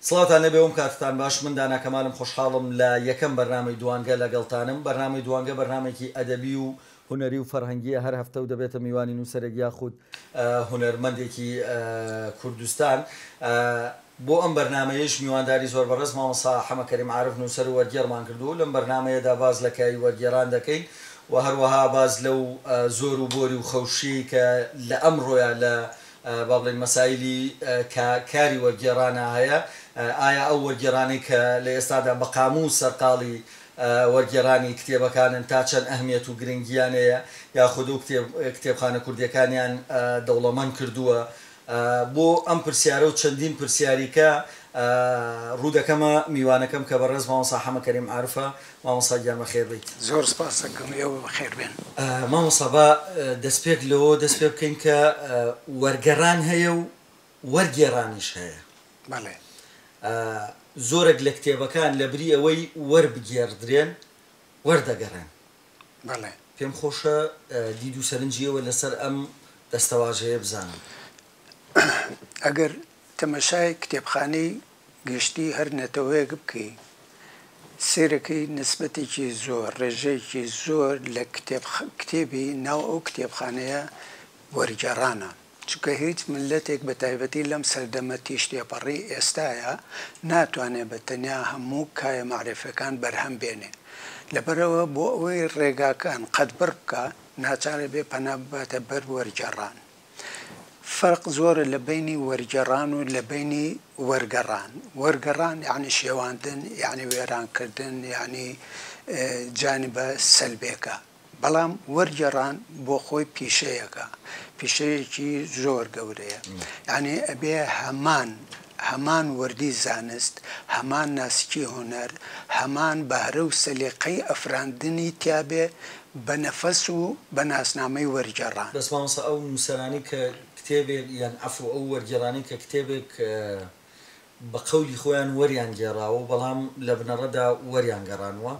سڵاوتان لێبێ وم کاتتان باش من دانا کەمالم خۆشحاڵم لە یەکەم بەرنامەی دووانگە لەگەڵتانم بەرنامەی دووانگە بەرنامەیەکی ئەدەبی و هونەری و فەرهەنگیە هەر هەفتە و دەبێتە میوانی نووسەرێک یاخود هونەرمەندێکی کوردستان بۆ ئەم بەرنامەیەیش میوانداری زۆر بەڕێز مامۆستا حەمە کەریم عارف نووسەر و وەرگێڕمان کردووە و لەم بەرنامەیەدا باس لە کایەی وەرگێران دەکەین و هەروەها باس لەو زۆر و بۆری و خەوشیەی کە لە ئەمڕۆیا لە با بڵێین مەسایلی کە کاری وەرگێڕانە هەیە، ئایا ئەو وەرگێڕانەی کە لە ئێستادا بە قامووس سەرقاڵی وەرگێڕانی کتێبەکانن تا چەند ئەهمیەت و گرنگییان هەیە یاخود و کتێب کتێبخانە کوردییەکانیان دەوڵەمەند کردووە؟ بۆ ئەم پرسیارە و چەندین پرسیاریکە ڕوو دەکەمە میوانەکەم کە بەڕێز مامۆستا حەمە کەریم عارفە مامۆستا گیان بەخێر بێیت. زۆر سپاس دەکەم ئێوە بەخێر بێن. مامۆستا با دەسپێک لەوەوە دەست پێ بکەین کە وەرگەڕان هەیە و وەرگێڕانیش هەیە. بەڵێ. زۆرێک لە کتێبەکان لە بری ئەوەی وەربگێڕدرێن وەردەگەڕێن. بەڵێ. پێم خۆشە دید و سەرنجی ئێوە لەسەر ئەم دەستەواژەیە بزانم. ئەگەر تەمەشای کتێبخانەی گشتی هەر نەتەوەیەک بکەی سەیرەکەی نسبەتێکی زۆر ڕێژەیەکی زۆر لە کتێب کتێبی ناو ئەو کتێبخانەیە وەرگێڕانە چونکە هیچ ملەتێک بە تایبەتی لەم سەردەمە تیژ تێپەڕی ئێستایە ناتوانێ بە تەنیا هەموو کایە مەعرفیەکان بەرهەم بێنێ لەبەرئەوە بۆ ئەوەی ڕێگاکان قەدبڕ بکا ناچارە بێ پەنا بباتە بەر وەرگێڕان فەرق زۆرە لە بەینی وەرگێڕان و لە بەینی وەرگەڕان. وەرگەڕان یانی شێواندن، یانی وێرانکردن، یانی جانبە سەلبێکە. بەڵام وەرگێڕان بۆ خۆی پیشەیەکە، پیشەیەکی زۆر گەورەیە. یانی ئەبێ هەمان هەمان وردی زانست، هەمان ناسکی هونەر، هەمان بەهرە و سەلیقەی ئەفراندنی تیا بێ بە نەفەس و بە ناسنامەی وەرگێڕان. بەس مامۆستا ئەو نووسەرانەی کە کتێبێک یان عەفو ئەو وەرگێڕانەی کە کتێبێک بە قەولی خۆیان وەریان گێڕاوە بەڵام لە بنەڕەدا وەریان گەڕانووە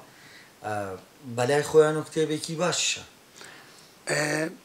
بەلای خۆیانەوە کتێبێکی باشیشە.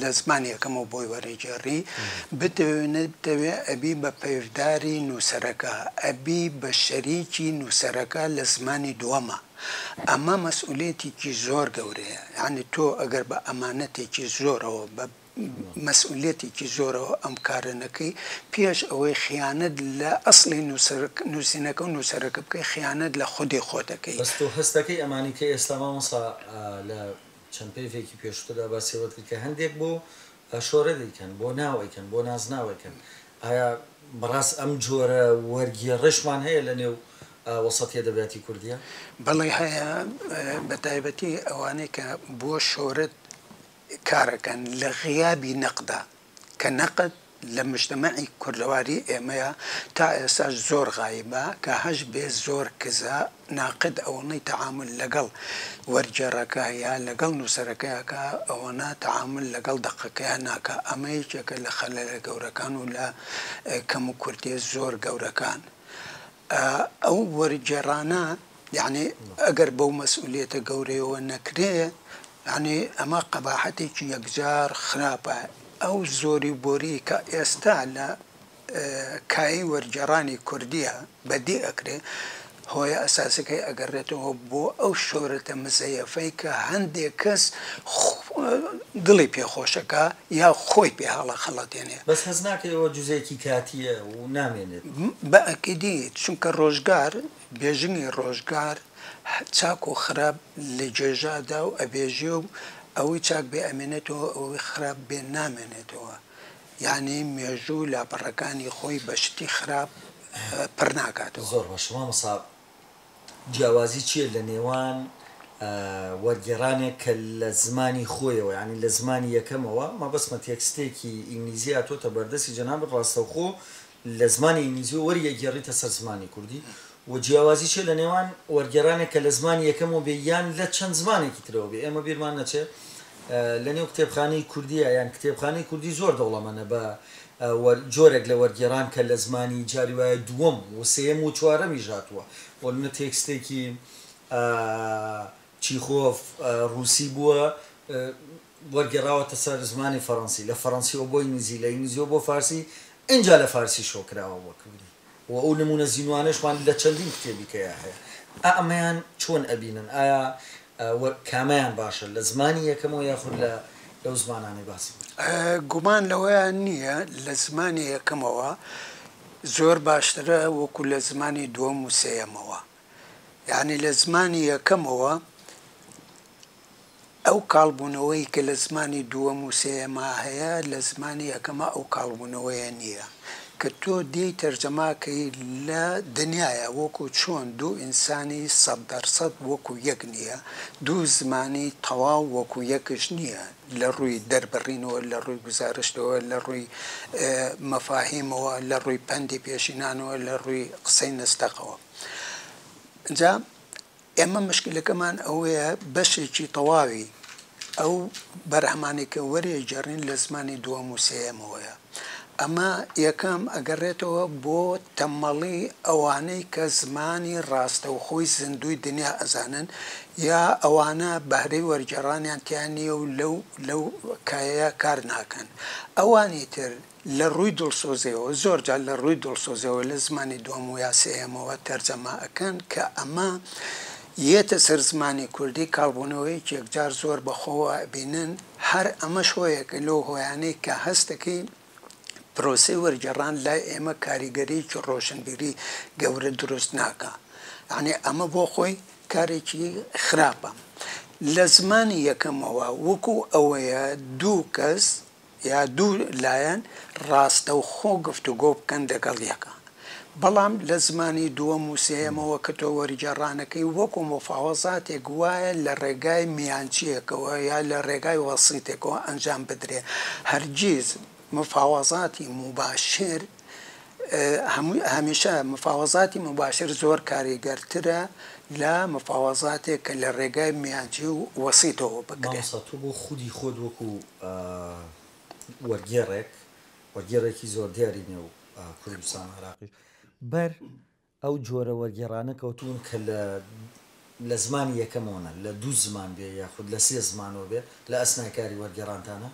لە زمانی یەکەمەوە بۆی وەرەگێڕی، بتەوێ نەبتەوێ ئەبی بە پەیڤداری نووسەرەکە، ئەبی بە شەریکی نووسەرەکە لە زمانی دووەما. ئەمە مەسئولیەتێکی زۆر گەورەیە، یانی تۆ ئەگەر بە ئەمانەتێکی زۆرەوە، بە مەسئولیەتێکی زۆرەوە ئەم کارە نەکەی، پێش ئەوەی خیانەت لە ئەسڵی نووسینەکە و نووسەرەکە بکەی، خیانەت لە خودی خۆت ئەکەی. بەس تۆ هەست دەکەی ئەمانەی کە ئێستا مامۆستا لە چەند پێڤێکی پێشوتردا باسی ئەوەت کرد کە هەندێک بۆ شۆرە دەیکەن بۆ ناو ئەیکەن بۆ نازناو ئەیکەن ئایا بەڕاست ئەم جۆرە وەرگێڕشمان هەیە لە نێو وەسەتی ئەدەبیاتی کوردیا؟ بەڵی هەیە بە تایبەتی ئەوانەی کە بۆ شۆرەت کارەکەن لە غیابی نەقدا کە نەقد لە مجتەمەعی کوردەواری ئێمەیە تا ئێستاش زۆر غایبە کە هەش بێ زۆر کزە ناقد ئەوەنەی تەعامول لەگەڵ وەرگێڕەکە یا لەگەڵ نووسەرەکە ئەکا ئەوەنە تەعامول لەگەڵ دەقەکەیا ناکا ئەمە یەکێکە لە خەلەلە گەورەکان و لە کەم و کورتیە زۆر گەورەکان ئەو وەرگێڕانە یەعنی ئەگەر بەو مەسئولیەتە گەورەیەوە نەکرێ یەعنی ئەمە قەباحەتێکی یەکجار خراپە ئەو زۆری بۆری کە ئێستا لە کایەی وەرگێڕانی کوردیە بەدی ئەکرێ هۆیە ئەساسەکەی ئەگەڕێتەوە بۆ ئەو شۆرەتە مزەیەفەی کە هەندێک کەس دڵی پێ خۆشەکا یا خۆی پێ هەڵەخەڵەتێنێ. بەس هەست ناکەی ئەوە جزئێکی کاتیە؟ و نامێنێت. بە ئەکیدی چونکە ڕۆژگار بێژنگی ڕۆژگار چاک و خراپ لە گێژادا و ئەبێژێ و ئەوەی چاک بێ ئەمێنێتەوە ئەوەی خراپ بێ نامێنێتەوە یانی مێژوو لاپەڕەکانی خۆی بە شتی خراپ پڕ ناکاتەوە. زۆر ڕۆشن مامۆستا جیاوازی چیە لە نێوان وەرگێڕانێک کە لە زمانی خۆیەوە یانی لە زمانی یەکەمەوە مەبەستمە تێکستێکی ئینگلیزی هاتۆتە بەردەستی جەنابت ڕاستەوخۆ لە زمانی ئینگلیزی وەریەگێڕیتە سەر زمانی کوردی؟ وە جیاوازی چیە لە نێوان وەرگێڕانێک کە لە زمانی یەکەمەوە بێ یان لە چەند زمانێکی ترەوە بێ ئێمە بیرمان نەچێ لە نێو کتێبخانەی کوردیە یان کتێبخانەی کوردی زۆر دەوڵەمەنە بە جۆرێک لە وەرگێڕان کە لە زمانی جاری وایە دووەم وسێیەم وچوارەمیش هاتووە بۆ نمونە تێکستێکی چیخۆف ڕووسی بووە وەرگێڕاوەتە سەر زمانی فەڕەنسی لە فەڕەنسیەوە بۆ ئینگلیزی لە ئینگلیزیەوە بۆ فارسی ئینجا لە فارسیشەوە کراوە بۆ کوردی. وە ئەو نمونە زینوانەشمان لە چەندین کتێبی تێیا هەیە ئەمەیان چۆن ئەبینن ئایا وە کامەیان باشە لە زمانی یەکەمەوە یاخود لە لەو زمانانەی باسی کرد؟ گومان لەوەیا نیە لە زمانی یەکەمەوە زۆر باشترە وەکو لە زمانی دووەم و سێیەمەوە یەعنی لە زمانی یەکەمەوە ئەو کاڵبوونەوەی کە لە زمانی دووەم و سێیەما هەیە لە زمانی یەکەما ئەو کاڵبوونەوەیە نییە کە تۆ دێی تەرجەما کەی لە دنیایا وەکوو چۆن دوو ئینسانی سەد دەر سەد وەکوو یەک نییە دوو زمانی تەواو وەکوو یەکش نییە لە ڕووی دەربڕینەوە لە ڕووی گوزارشتەوە لە ڕووی مەفاهیمەوە لە ڕووی پەندی پێشینانەوە لە ڕووی قسەی نەستەقەوە. جا ئێمە مشکلەکەمان ئەوەیە بەشێکی تەواوی ئەو بەرهەمانێکە وەرێ جێڕین لە زمانی دووەم وسەیەمەوەیە ئەمە یەکەم ئەگەڕێتەوە بۆ تەمەڵی ئەوانەی کە زمانی ڕاستەوخۆی زیندوی دنیا ئەزانن یا ئەوانە بەهرەی وەرگێڕانیان تیانە و لەو لەو کایە کار ناکەن ئەوانی تر لە ڕووی دڵسۆزیەوە، زۆر جار لە ڕووی دڵسۆزیەوە لە زمانی دووەم ویا سێیەمەوە تەرجەمە ئەکەن کە ئەمە یەتە سەر زمانی کوردی کاڵبوونەوەیەکی یەکجار زۆر بە خۆوە ئەبینن هەر ئەمەش هۆیەکە لەو هۆیانەی کە هەست دەکەی پرۆسەی وەرگێڕان لای ئێمە کاریگەریەکی ڕۆشنبیری گەورە دروست ناکا یانی ئەمە بۆ خۆی کارێکی خراپە لە زمانی یەکەمەوە وەکوو ئەوەیە دوو کەس یا دوو لایەن ڕاستەوخۆ گفتوگۆ بکەن دەگەڵ یەکا بەڵام لە زمانی دووەم و سێیەمەوە کە تۆ وەرگێڕانەکەی وەکو موفاوەزاتێک وایە لە ڕێگای میانچییەکەوە یا لە ڕێگای وەسیتێکەوە ئەنجام بدرێ هەرگیز مفاوەزاتی موباشر هەمیشە مفاوەزاتی موباشر زۆر کاریگەرترە لە مفاوەزاتێک کە لە ڕێگای میانچی و وەسیتەوە بکرێ. مامۆستا تۆ بۆ خودی خۆت وەکو بە وەرگێڕێک، وەرگێڕێکی زۆر دیاری نێو کوردستان و عێراقیش، بەر ئەو جۆرە وەرگێڕانە کەوتوون کە لە لە زمانی یەکەمەوە نە، لە دوو زمان بێ یاخود لە سێ زمانەوە بێ، لە ئەسنای کاری وەرگێڕانتانە؟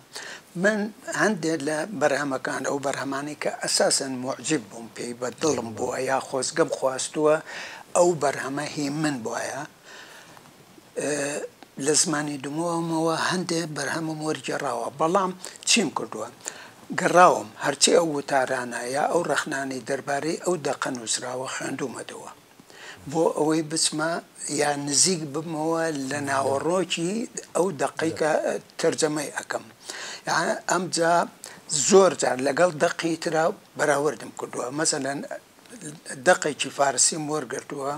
من هەندێ لە بەرهەمەکان، ئەو بەرهەمانەی کە ئەساسەن موعجیب بووم پێی، بە دڵم بووە یا خۆزگەم خواستووە ئەو بەرهەمە هی من بوایە، لە زمانی دمۆومەوە هەندێ بەرهەمم وەرگێڕاوە، بەڵام چیم کردووە؟ گەڕاوم هەرچی ئەو وتارانە یا ئەو ڕەخنانەی دەربارەی ئەو دەقە نووسراوە خوێندوومەتەوە، بۆ ئەوەی بچمە یا نزیک ببمەوە لە ناوەڕۆکی ئەو دەقەی کە تەرجەمەی ئەکەم. ئەمجا زۆر جار لەگەڵ دەقی ترا بەراوردم کردووە، مەسەلەن دەقێکی فارسیم وەرگرتووە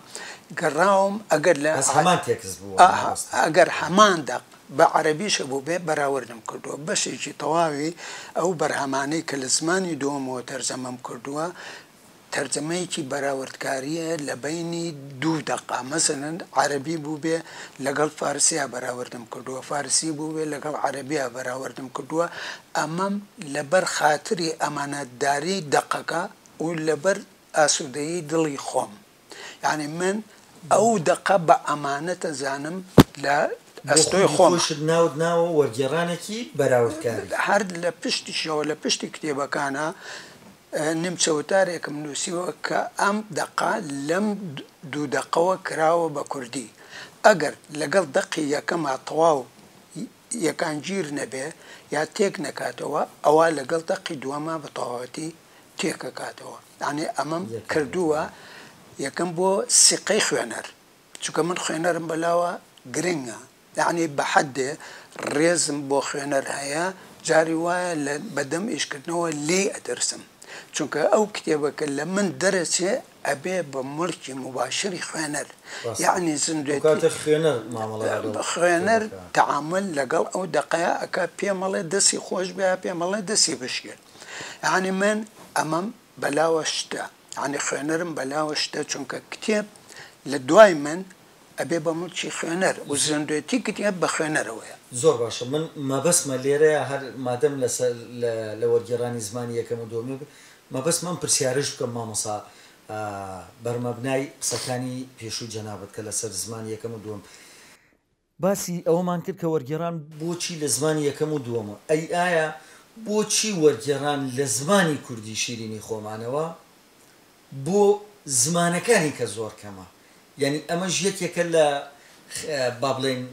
گەڕاوم ئەگەر لە بەس هەمان تێکست بووە مامۆستا ئەگەر هەمان دەق بە عەرەبیش هەبووبێ بەراوردم کردووە بەشێکی تەواوی ئەو بەرهەمانەی کە لە زمانی دووەمەوە تەرجەمەم کردووە تەرجەمەیەکی بەراوردکارییە لە بەینی دوو دەقە مەسەلەن عەرەبی بووبێ لەگەڵ فارسیا بەراوردم کردووە فارسی بووبێ لەگەڵ عەرەبیا بەراوردم کردووە ئەمەم لەبەر خاتری ئەمانەتداری دەقەکە و لەبەر ئاسودەیی دڵی خۆم یانی من ئەو دەقە بە ئەمانەت ئەزانم لە ئەستۆی خۆم. بۆ خودی خۆیشت ناوت ناوە وەرگێڕانێکی بەراوردکاری. هەر لە پشتیشەوە لە پشتی کتێبەکانا نیمچە وتارێکم نوسیوە کە ئەم دەقە لەم دوو دەقەوە کراوە بە کوردی ئەگەر لەگەڵ دەقی یەکەما تەواو یەکانگیر نەبێ یا تێک نەکاتەوە ئەوا لەگەڵ دەقی دووەما بە تەواوەتی تێکەکاتەوە یانی ئەمەم کردووە یەکەم بۆ سیقەی خوێنەر چونکە من خوێنەرم بەلاوە گرنگە یانی بە حەدێ ڕێزم بۆ خوێنەر هەیە جاری وایە لە بەدەم ئیشکردنەوە لێی ئەترسم چونکە ئەو کتێبەکە لە من دەرەچێ ئەبێ بە مڵکی موباشری خوێنەر یانی زیندوێتی خوێنەر تەعامل لەگەڵ ئەو دەقەیە ئەکا پێمەڵێ دەسی خۆش بیا پێمەڵێ دەسی بشکێت یانی من ئەمەم بەلاوە شتە یانی خوێنەرم بەلاوە شتە چونکە کتێب لە دوای من ئەبێ بە موڵکی خوێنەر و زیندوێتی کتێب بە خوێنەرەوەیە. زۆر باشە من مەبەستمە لێرەیا هەر مادەم لەسەر لە وەرگێڕانی زمانی یەکەم و دووەمی بێ مەبەستمە ئەم پرسیارەش بکەم مامۆسا بەرمەبنای قسەکانی پێشووی جەنابت کە لەسەر زمانی یەکەم و دووەم باسی ئەوەمان کرد کە وەرگێڕان بۆچی لە زمانی یەکەم و دووەمە، ئەی ئایا بۆچی وەرگێڕان لە زمانی کوردی شیرینی خۆمانەوە بۆ زمانەکانی کە زۆر کەمە، یانی ئەمەش یەکێکە لە با بڵێین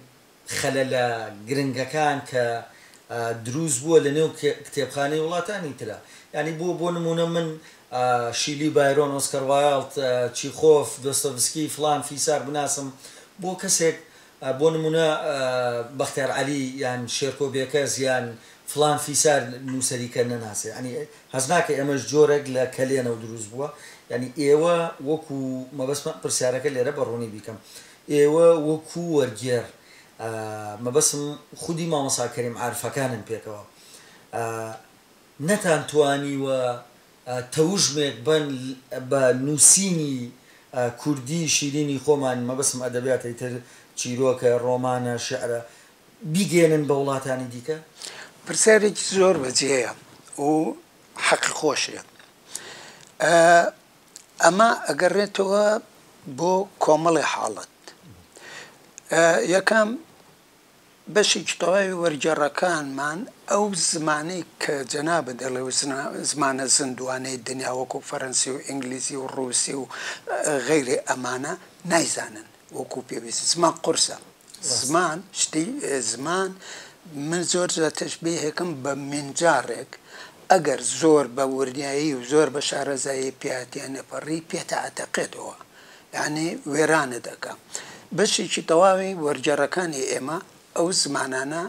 خەلەلە گرنگەکان کە دروست بووە لە نێو کتێبخانەی وڵاتانی ترا، یانی بۆ بۆ نموونە من شیلی بایرۆن ئۆسکەر وایڵد چیخۆف دۆستۆیڤسکی فڵان فیسار بناسم بۆ کەسێک بۆ نمونە بەختیار عەلی یان شێرکۆ بێکەس یان فڵان فیسار نوسەری کە نەناسێ یانی هەست ناکەی ئەمەش جۆرەک لە کەلێنەو دروست بووە یانی ئێوە وەکو مەبەستمە پرسیارەکە لێرە بە ڕوونی بیکەم ئێوە وەکو وەرگێر مەبەستم خودی مامۆسا کەریم عارفەکانن پێکەوە نەتان توانیوە تەوژمێک بەن بە نووسینی کوردی شیرینی خۆمان، مەبەستم ئەدەبیاتەی تر، چیرۆکە، ڕۆمانە، شیعرە، بیگەیەنن بە وڵاتانی دیکە؟ پرسیارێکی زۆر بەجێیە و حەقی خۆشیە. ئەمە ئەگەڕێتەوە بۆ کۆمەڵێ حاڵەت. یەکەم، بەشێکی تەواوی وەرگێڕەکانمان ئەو زمانەی کە جەنابت دەڵێ و زمانە زیندووانەی دنیا وەکوو فەرەنسی و ئینگلیزی و ڕووسی و غەیرێ ئەمانە نایزانن وەکوو پێویست. زمان قورسە. زمان شتی زمان من زۆر جار تەشبیه ئەکەم بە مینجاڕێک ئەگەر زۆر بە وردیایی و زۆر بە شارەزایی پێیهاتییە نەپەڕی پێتئەتەقێتەوە. یانی وێرانت ئەکا بەشێکی تەواوی وەرگێڕەکانی ئێمە ئەو زمانانە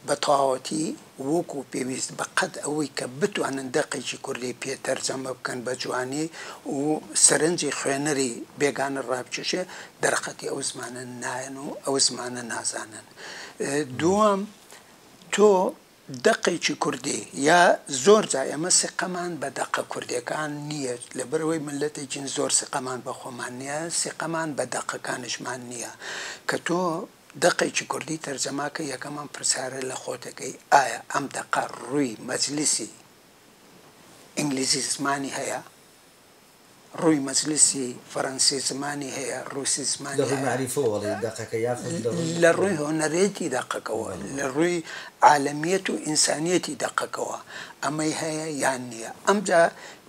بە تەواوەتی وەکو پێویست بە قەد ئەوەی کە بتوانن دەقێکی کوردی پێ تەرجەمە بکەن بە جوانی و سەرنجی خوێنەری بێگانە ڕابکێشێ دەرەقەتی ئەو زمانە نایەن و ئەو زمانە نازانن دووەم تۆ دەقێکی کوردی یا زۆر جا ئێمە سیقەمان بە دەقە کوردیەکان نیە لەبەرئەوەی میللەتێکین زۆر سیقەمان بە خۆمان نیە سیقەمان بە دەقەکانیشمان نیە کە تۆ دەقێکی کوردی تەرجەماکەی یەکەمان پرسیارە لە خۆت دەکەی ئایا ئەم دەقە ڕووی مەجلیسی ئینگلیزی زمانی هەیە؟ ڕووی مەجلیسی فەرەنسی زمانی هەیە، ڕووسی زمانی هەیە. لە ڕووی مەعریفەوە ئەڵێی دەقەکە یاخود لە ڕووی. لە ڕووی هونەرێتی دەقەکەوە، لە ڕووی عالەمیەت و ئینسانیەتی دەقەکەوە ئەمەی هەیە یان نییە. ئەمجا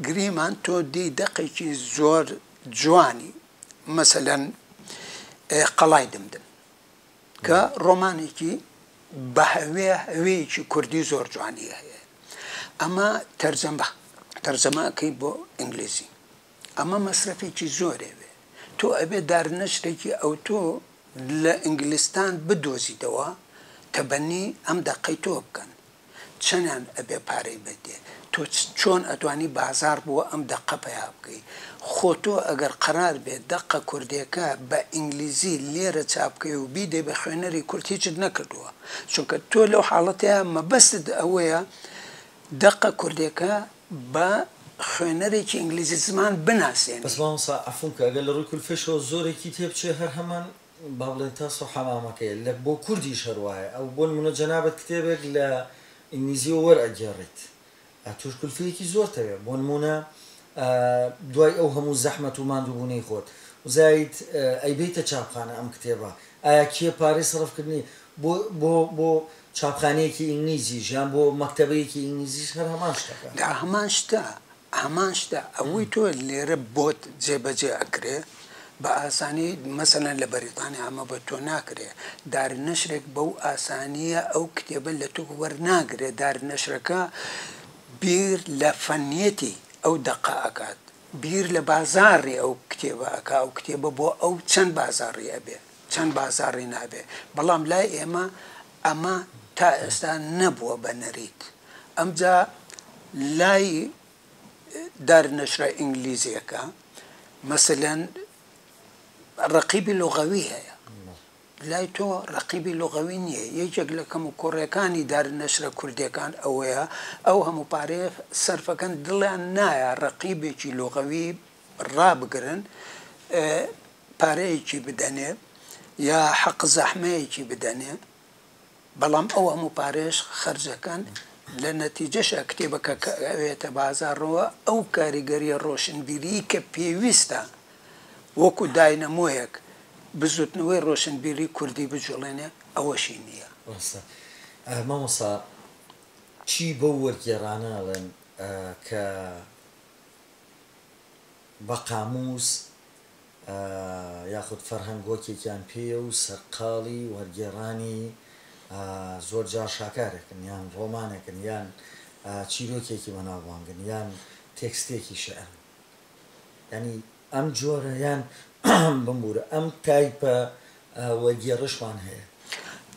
گریمان تۆ دێی دەقێکی زۆر جوانی مەسەلەن قەڵای دمدم. کە ڕۆمانێکی بەهەوێ هەوێیەکی کوردی زۆر جوانی هەیە ئەمە تەرجەمە تەرجەمەکەی بۆ ئینگلیزی ئەمە مەسرەفێکی زۆرێ وێ تۆ ئەبێ دارنەشتێکی ئەوتۆ لە ئینگلیستان بدۆزیتەوە تەبەنی ئەم دەقەی تۆ بکەن چەنان ئەبێ پارەی بەدێ تۆ چۆن ئەتوانی بازاڕ بۆ ئەم دەقە پەیا بکەی خۆ تۆ ئەگەر قەرار بێ دەقە کوردێکە بە ئینگلیزی لێرە چاپ کەی و بیدەی بە خوێنەری کورد هیچت نەکردووە چونکە تۆ لەو حاڵەتەیا مەبەستت ئەوەیە دەقە کوردێکە بە خوێنەرێکی ئینگلیزی زمان بناسێنی. بەس مامۆستا عەفوم کە ئەگەر لە ڕووی کولفەیشەوە زۆرێکی تێبچێ هەر هەمان با بڵێن تاس و حەمامەکەیە لە بۆ کوردیش هەر وایە ئەو بۆ نموونە جەنابت کتێبێک لە ئینگلیزیەوە وەرئەگێڕیت تۆش کولفەیەکی زۆرت هەیە بۆ نموونە دوای ئەو هەموو زەحمەت و ماندووبوونەی خۆت وزایت ئەیبەیتە چاپخانە ئەم کتێبە ئایا کێ پارەی سەرف کردنی بۆ بۆ بۆ چاپخانەیەکی ئینگلیزیش یان بۆ مەکتەبەیەکی ئینگلیزیش هەر هەمان شتەکە. هەمان شتە ئامانجتە ئەوەی تۆ لێرە بۆت جێبەجێ ئەکرێ بە ئاسانی مەسەلەن لە بەریتانیا ئەمە بە تۆ ناکرێ دارنەشرێک بەو ئاسانیە ئەو کتێبە لە تۆ وەرناگرێ دارنەشرەکە بیر لە فەنیەتی ئەو دەقە ئەکات بیر لە بازاڕی ئەو کتێبە ئەکا ئەو کتێبە بۆ ئەو چەند بازاڕی ئەبێ چەند بازاڕی نابێ بەڵام لای ئێمە ئەمە تا ئێستا نەبووە بە نەریت ئەمجا لای دار نەشرە ئینگلیزیەکە مەسەلەن ڕەقیبی لغەوی هەیە لای تۆ ڕەقیبی لغەوی نییە یەکێک لە کەم و کۆڕیەکانی دار نەشرە کوردەکان ئەوەیە ئەو هەموو پارێ سەرفەکەن دڵیان نایە ڕەقیبێکی لغەوی ڕابگرن پارەیەکی بدەنێ یا حەق زەحمەیەکی بدەنێ بەڵام ئەو هەموو پارەیەش خەرجەکەن لە نەتیجەشا کتێبەکە کە ئەوێتە بازاڕەوە ئەو کاریگەریە ڕۆشنبیریی کە پێویستە وەکو داینەمۆیەک بزوتنەوەی ڕۆشنبیری کوردی بجوڵێنێ ئەوەشی نیە. ڕاستە مامۆستا چی بەو وەرگێڕانە ئەڵێن کە بە قامووس یاخود فەرهەنگ هۆکێکیان پێیە و سەرقاڵی وەرگێڕانی زۆر جار شاکارێکن یان ڕۆمانێکن یان چیرۆکێکی بەناوبانگن یان تێکستێکی شیعرن. یانی ئەم جۆرە یان بمبوورە ئەم تایپە وەرگێڕشمان هەیە.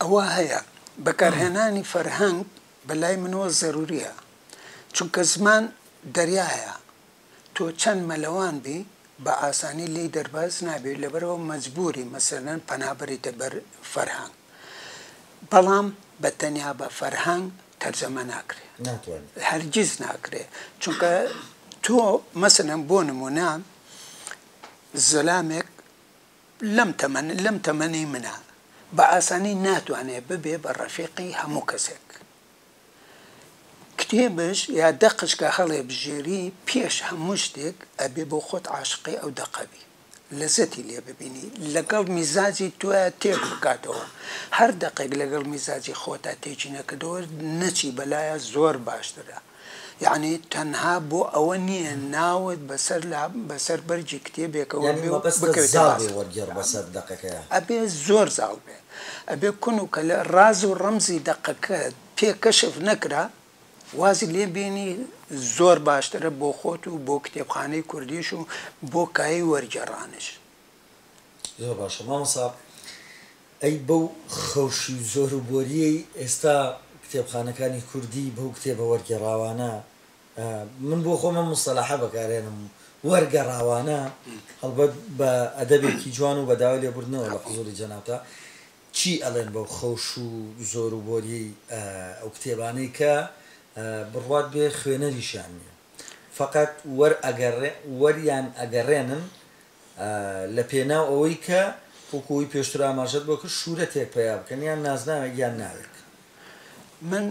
ئەوە هەیە. بەکارهێنانی فەرهەنگ بە لای منەوە زەروورییە. چونکە زمان دەریایە. تۆ چەند مەلەوان بی بە ئاسانی لێی دەرباز نابی لەبەرئەوە مەجبوری مەسەلەن پەنا بەریتە بەر فەرهەنگ بەڵام بە تەنیا بە فەرهەنگ تەرجەمە ناکرێ ناتوانێ. هەرگیز ناکرێ چونکە تۆ مەسەلەن بۆ نمونە زەلامێک لەم تەمەن لەم تەمەنی منە بە ئاسانی ناتوانێ ببێ بە ڕەفیقی هەموو کەسێک کتێبش یا دەقش کە هەڵێبژێری پێش هەموو شتێک ئەبێ بۆ خۆت عاشقی ئەو دەقە بی لەزەتی لێ ببینی لەگەڵ میزاجی تۆیا تێک بکاتەوە هەر دەقێک لەگەڵ میزاجی خۆتا تێکی نەکردەوە نەچی بەلایا زۆر باشترە یەعنی تەنها بۆ ئەوە نیە ناوت بەسەر لا بەسەر بەرگی کتێبێکەوە بێ و بکەوێتە باس یەعنی مەبەستت زاڵ بێ وەرگێڕ بەسەر دەقەکەیا. ئەبێ زۆر زاڵ بێ. ئەبێ کون و کەلە ڕاز و ڕەمزی دەقەکەت پێ کەشف نەکرا وازی لێ بێنی زۆر باشترە بۆ خۆت و بۆ کتێبخانەی کوردیش و بۆ کایەی وەرگێڕانیش. زۆر باشە مامۆستا ئەی بەو خەوشی و زۆرو بۆریەی ئێستا کتێبخانەکانی کوردی بەو کتێبە وەرگێڕاوانە، من بۆ خۆم ئەم موستەلاحە بەکارهێنم، وەرگەڕاوانە، هەڵبەت بە ئەدەبێکی جوان و بە داوای لێبوردنەوە لە حزووری جەنابتا، چی ئەڵێن بەو خەوش و زۆر و بۆرییەی ئەو کتێبانەی کە بڕوات بێ خوێنەریشیان نییە، فەقەت وەریان ئەگەڕێنن لە پێناو ئەوەی کە وەکو ئەوەی پێشتر ئاماژەت بۆ کرد شوورەتێک پەیا بکەن، یان نازناوێک یان ناوێک. من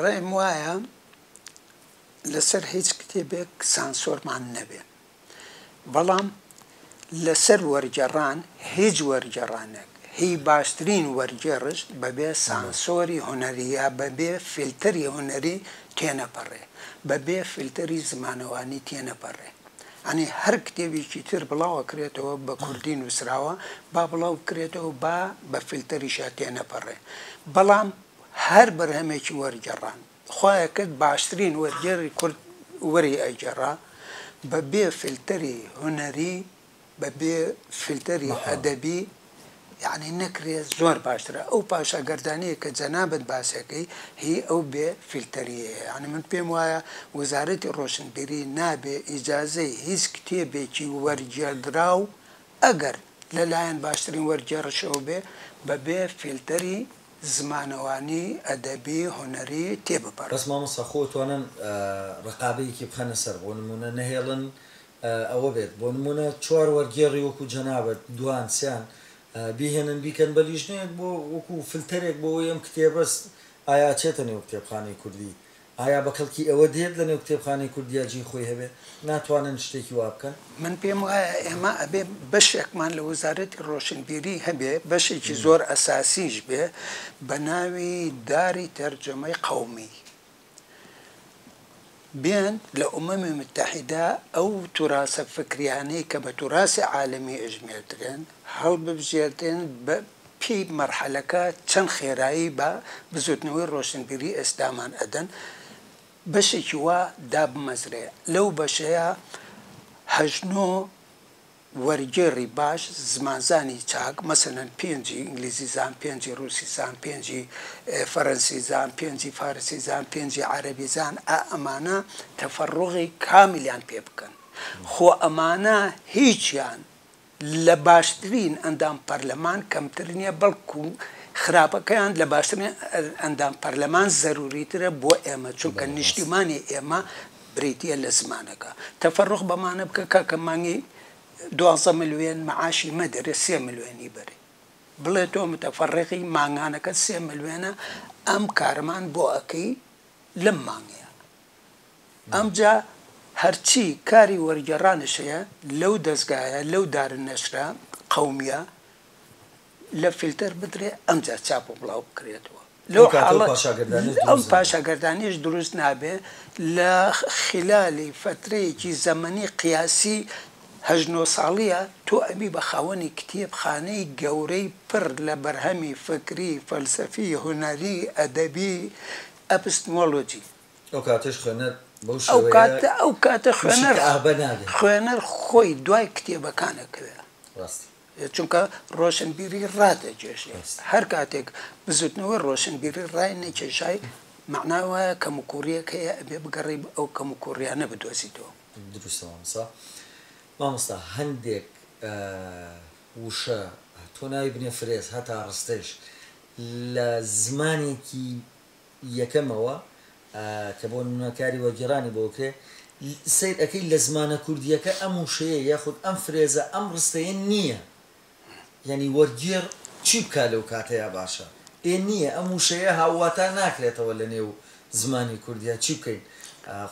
ڕایم وایە لەسەر هیچ کتێبێک سانسۆرمان نەبێ، بەڵام لەسەر وەرگێڕان هیچ وەرگێڕانێک، هی باشترین وەرگێڕش بەبێ سانسۆری هونەری یا بەبێ فیلتەری هونەری تێنەپەڕێ، بەبێ فیلتەری زمانەوانی تێنەپەڕێ. یانی هەر کتێبێکی تر بڵاو ئەکرێتەوە بە کوردی نووسراوە، با بڵاو بکرێتەوە با بە فیلتەریشا تێنەپەڕێ، بەڵام هەر بەرهەمێکی وەرگێڕان خوایە کرد باشترین وەرگێڕی کورد وەری ئەگێڕا بە بێ فلتەری هونەری بە بێ فلتەری ئەدەبی یەعنی نەکرێ زۆر باشترە ئەو پاشا گەردانیە کە جەنابت باسیەکەی هی ئەو بێ فلتەریە یەعنی من پێم وایە وزارەتی ڕۆشنبیری نابێ ئیجازەی هیچ کتێبێکی وەرگێردراو ئەگەر لە لایەن باشترین وەرگێڕشەوە بێ بە بێ فلتەری زمانەوانی، ئەدەبی، هونەری تێ بپەڕن. بەس مامۆستا خۆ توانن ڕقابەیەکی بخەنە سەر بۆ نموونە نەهێڵن ئەوە بێت بۆ نموونە چوار وەرگێڕی وەکوو جەنابت دووان سێان بیهێنن بیکەن بە لیژنەیەک بۆ وەکوو فلتەرێک بۆ ئەوەی ئەم کتێبە ئایا ئەچێتە نێو کتێبخانەی کوردی ئایا بە کەڵکی ئەوە دێت لە نێو کتێبخانەی کوردیا جێی خۆی هەبێ؟ ناتوانن شتێکی وا بکەن؟ من پێم وایە ئێمە ئەبێ بەشێکمان لە وەزارەتی ڕۆشنبیری هەبێ، بەشێکی زۆر ئەساسیش بێ بە ناوی داری تەرجەمەی قەومی. بێن لە ئومەمی موتەحیدە ئەو توراسە فکریانەی کە بە توراسی عالەمی ئەژمێردرێن هەڵببژێردرێن بە پێی مەرحەلەکە چەند خێرایی بە بزوتنەوەی ڕۆشنبیری ئێستامان ئەدەن بەشێکی وا دابمەزرێ لەو بەشەیا هەشت نۆ وەرگێڕی باش زمانزانی چاک مەسەلەن پێنجی ئینگلیزی زان پێنجی ڕوسی زان پێنجی فەرەنسی زان پێنجی فارسی زان پێنجی عەرەبی زان ئا ئەمانە تەفەڕوغی کامیلیان پێ بکەن خۆ ئەمانە هیچیان لە باشترین ئەندام پەرلەمان کەمتر نیە بەڵکو خراپەکەیان لە باشترین ئەندام پەرلەمان زەروریترە بۆ ئێمە چونکە نیشتیمانی ئێمە بریتیە لە زمانەکە تەفەروخ بەمانە بکە کاکە مانگی دوازدە ملوێن معاشی مەدەرێ سێ ملوێنی بەرێ بڵێ تۆ متەفەڕیقی مانگانەکەت سێ ملوێنە ئەم کارەمان بۆ ئەکەی لەم مانگەیا ئەمجا هەرچی کاری وەرگێڕانیش هەیە لەو دەزگایە لەو دار نەشرە قەومیە لە فیلتەر بدرێ ئەمجا چاپ و بڵاو بکرێتەوە لەو حاڵەت ئەم پاشاگەردانیش دروست نابێ لە خیلالی فەترەیەکی زەمەنی قیاسی هەشت نۆ ساڵیە تۆ ئەبی بە خاوەنی کتێب خانەی گەورەی پر لە بەرهەمی فکری فەلسەفی هونەری ئەدەبی ئەپستمۆلۆجی. ئەو کاتەش خوێنەر بەو شێوەیە ئەو کاتە خوێنەر خوێنەر خۆی دوای کتێبەکان ئەکەوێ ڕاستی چونکە ڕۆشنبیری ڕادەکێشێ هەر کاتێک بزوتنەوەی ڕۆشنبیری ڕای نەکێشای مەعنا وایە کەموکوڕیەک هەیە ئەبێ بگەڕی ئەو کەموکوڕیانە بدۆزیتەوە دروستەوەسا مامۆستا هەندێک وشە تۆ ناوی بنێ فرێز هەتا ڕستەیش لە زمانێکی یەکەمەوە کە بۆ نمونە کاری وەرگێڕانی بۆ بکرێ سەیر ئەکەی لە زمانە کوردییەکە ئەم وشەیە یاخود ئەم فرێزە ئەم ڕستەیە نییە یانی وەرگێڕ چی بکا لەو کاتەیا باشە ئێ نییە ئەم وشەیە هاوواتا ناکرێتەوە لە نێو زمانی کوردیا چی بکەین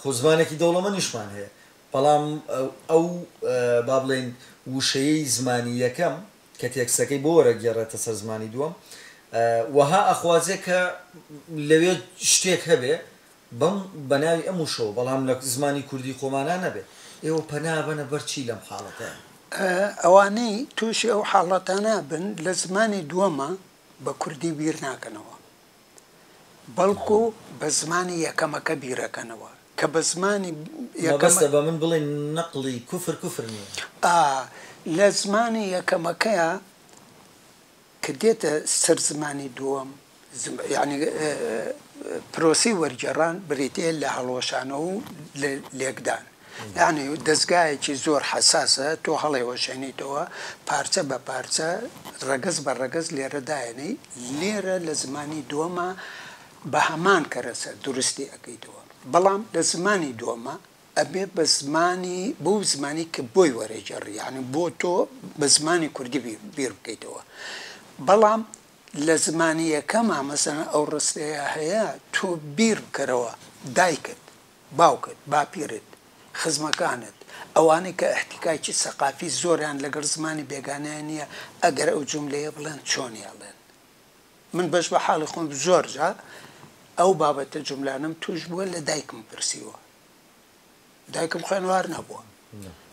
خۆ زمانێکی دەوڵەمەنیشمان هەیە بەڵام ئەو با بڵێین وشەیەی زمانی یەکەم کە تێکستەکەی بۆ وەرەگێڕێتە سەر زمانی دووەم وەها ئەخوازێ کە لەوێ شتێک هەبێ بەم بەناوی ئەم وشەوە بەڵام لە زمانی کوردی خۆمانا نەبێ ئێوە پەنا ئەبەنە بەر چی لەم حاڵەتەیا؟ ئەوانەی تووشی ئەو حاڵەتانە ئەبن لە زمانی دووەما بە کوردی بیر ناکەنەوە بەڵکو بە زمانی یەکەمەکە بیرەکەنەوە کە بە زمانی یەکەمەکە. مەبەستە بە من بڵێی نەقڵی کوفر کوفر نییە. ئا لە زمانی یەکەمەکەیا کە دێتە سەر زمانی دووەم یانی پرۆسەی وەرگێڕان بریتییە لە هەڵوەشانەوە و لێکدان یانی دەزگایەکی زۆر حەساسە تۆ هەڵێوەشێنیتەوە پارچە بە پارچە ڕەگەز بە ڕەگەز لێرە دایەنێی لێرە لە زمانی دووەما بە هەمان کەرەسە دروستی ئەکەیتەوە بەڵام لە زمانی دووەما ئەبێ بە زمانی بەو زمانی کە بۆی وەرەیگێڕی یانی بۆ تۆ بە زمانی کوردی بیر بکەیتەوە بەڵام لە زمانی یەکەما مەسەلەن ئەو ڕستەیە هەیە تۆ بیر بکەرەوە دایکت باوکت، باپیرت، خزمەکانت، ئەوانەی کە ئیحتیکاکی سەقافی زۆریان لەگەڵ زمانی بێگانەیا نییە، ئەگەر ئەو جوملەیە بڵێن چۆنی ئەڵێن؟ من بەش بە حاڵی خۆم زۆر جار ئەو بابەتە جوملانەم تووش بووە لە دایکم پرسیوە، دایکم خوێنوار نەبووە،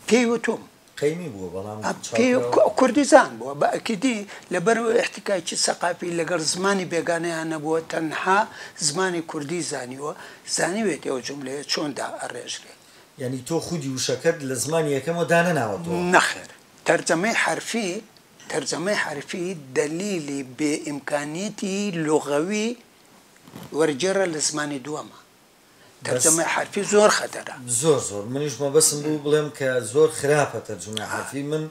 پێی وتوم قەیمی بووە بەڵام کوردزان بووە بە ئەکیدی لەبەرو ئیحتیکاکی سەقافی لەگەڵ زمانی بێگانەیا نەبووە تەنها زمانی کوردی زانیوە زانیوێت ئەو جوملەیە چۆن دا ئەڕێژرێ. یانی تۆ خودی وشەکەت لە زمانی یەکەمەوە دانەناوەتەوە؟ نەخێر تەرجەمەی حەرفی تەرجەمەی حەرفی دەلیلی بێ ئیمکانیەتی لوغەوی وەرگێڕە لە زمانی دووەمە. تەرجەمەی حەرفی زۆر خەتەرە. زۆر زۆر منیش مەبەسم بوو بڵێم کە زۆر خراپە تەرجومەی حەرفی من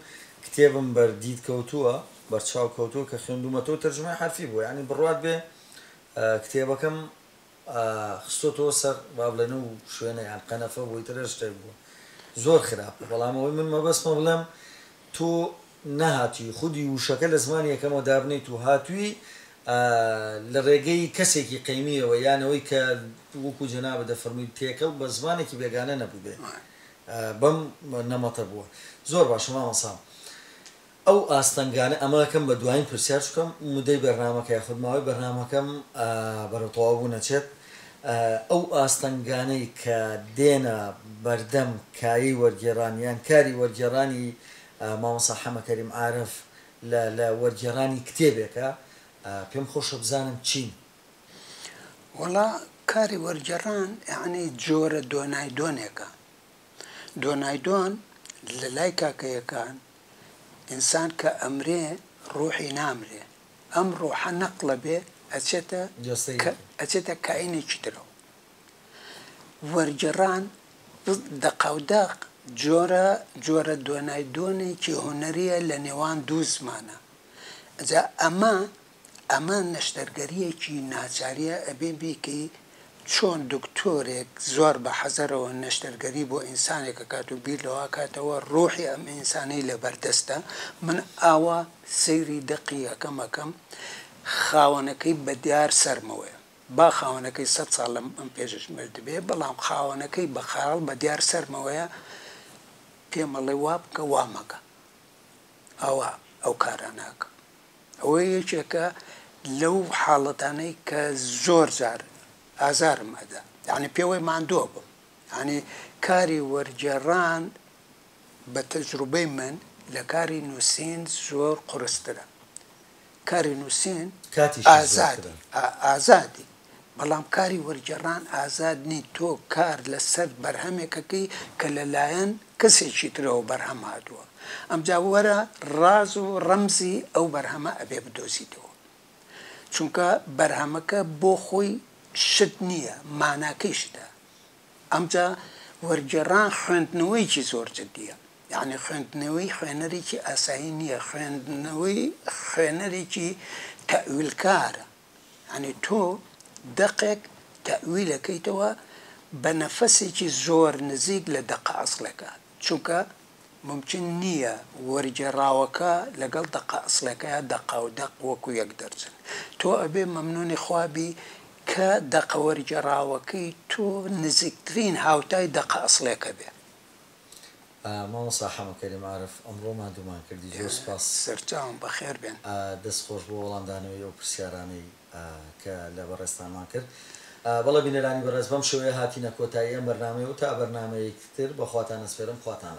کتێبم بەر دید کەوتووە بەر چاو کەوتووە کە خوێندومەتەوە تەرجومەی حەرفی بووە یانی بڕوات بێ کتێبەکەم خستۆتەوە سەر وا بڵێن و شوێنە یان قەنەفە بۆی ترە شتێک بووە زۆر خراپە بەڵام ئەوەی من مەبەسمە بڵێم تۆ نەهاتووی خودی ووشەکە لە زمانی یەکەمەوە دابنێیت و هاتووی ئە لە ڕێگەی کەسێکی قەیمیەوە یان ئەوەی کە وەکو جەنابت دەفەرمووی تێکەڵ بە زمانێکی بێگانە نەبووبێ بەم نەمەتە بووە. زۆر باشە مامۆستا ئەو ئاستەنگانە ئەمە ئەکەم بە دوایین پرسیار چونکە مدەی بەرنامەکە یاخود ماوەی بەرنامەکەم بەرەو تەواو بوون ئەچێت ئەو ئاستەنگانەی کە دێنە بەردەم کایەی وەرگێڕان یان کاری وەرگێڕانی مامۆستا حەمە کەریم عارف لە لە وەرگێڕانی کتێبێکە پێم خۆشە بزانم چین؟ وەڵا کاری وەرگێڕان یەعنی جۆرە دۆنایدۆنێکە، دۆنایدۆن لە لای کاکەیەکان ئینسان کە ئەمرێ ڕووحی نامرێ، ئەم ڕۆحە نەقڵە بێ ئەچێتە ئەچێتە کائینێکی ترەوە. وەرگێڕان دەقاودەق جۆرە جۆرە دۆنای دۆنێکی هونەرییە لە نێوان دوو زمانە. ئەجا ئەمە ئەمە نەشتەرگەرییەکی ناچارییە ئەبێ بیکەی چۆن دکتۆرێک زۆر بە حەزەرەوە نەشتەرگەری بۆ ئینسانێک ئەکات و بیر لەوە ئەکاتەوە ڕوحی ئەم ئینسانەی لەبەردەستە، من ئاوا سەیری دەقی ئەکەم ئەکەم خاوەنەکەی بە دیار سەرمەوەیە با خاوەنەکەی سەد ساڵ لەم ئەم پێشش مردبێ بەڵام خاوەنەکەی بە خەیاڵ بە دیار سەرمەوەیە پێم ئەڵێ وا بکە وا مەکە ئاوا ئەو کارانە ئەکەم. ئەوە یەکێکە لەو حاڵەتانەی کە زۆر جار ئازارم ئەدا یعنی پێوەی ماندووە بم ینی کاری وەرگێڕان بە تەجروبەی من لە کاری نووسین زۆر قورسترە کاری نووسین کاتیشی زۆرترە ئازادی ئازادی. بەڵام کاری وەرگێڕان ئازاد نین، تۆ کار لەسەر بەرهەمێکەکەی کە لەلایەن کەسێکی ترەوە بەرهەم هاتووە، ئەمجا وەرە ڕاز و ڕەمزی ئەو بەرهەمە ئەبێ بدۆزیتەوە، چونکە بەرهەمەکە بۆ خۆی شت نییە، ماناکەی شتە، ئەمجا وەرگێڕان خوێندنەوەیەکی زۆر جدییە، یەعنی خوێندنەوەی خوێنەرێکی ئاسایی نییە، خوێندنەوەی خوێنەرێکی تەئویلکارە. یانی تۆ دەقێک تەئویلەکەیتەوە بە نەفەسێکی زۆر نزیک لە دەقە ئەسڵێکە چونکە مومکین نییە وەرگێڕاوەکە لەگەڵ دەقە ئەسڵێکەیا دەقە و دەق وەکو یەک دەرچن تۆ ئەبێ مەمنونی خوا بی کە دەقە وەرگێڕاوەکەی تۆ نزیکترین هاوتای دەقە ئەسڵێکە بێ. مامۆستا حەمە کەریم عارف ئەمڕۆ ماندوومان کردی زۆر سوپاس. سەرچاوم بەخێر بێن. دەست خۆش بۆ وەڵامدانەوەی ئەو پرسیارانەی کە لە بەڕێزتانمان کرد. بەڵێ بینەرانی بەڕێز بەم شێوەیە هاتینە کۆتایی ئەم بەرنامەیەو تا بەرنامەیەکی تر بەخواتان ئەسپێرم خواتان لەگەڵ.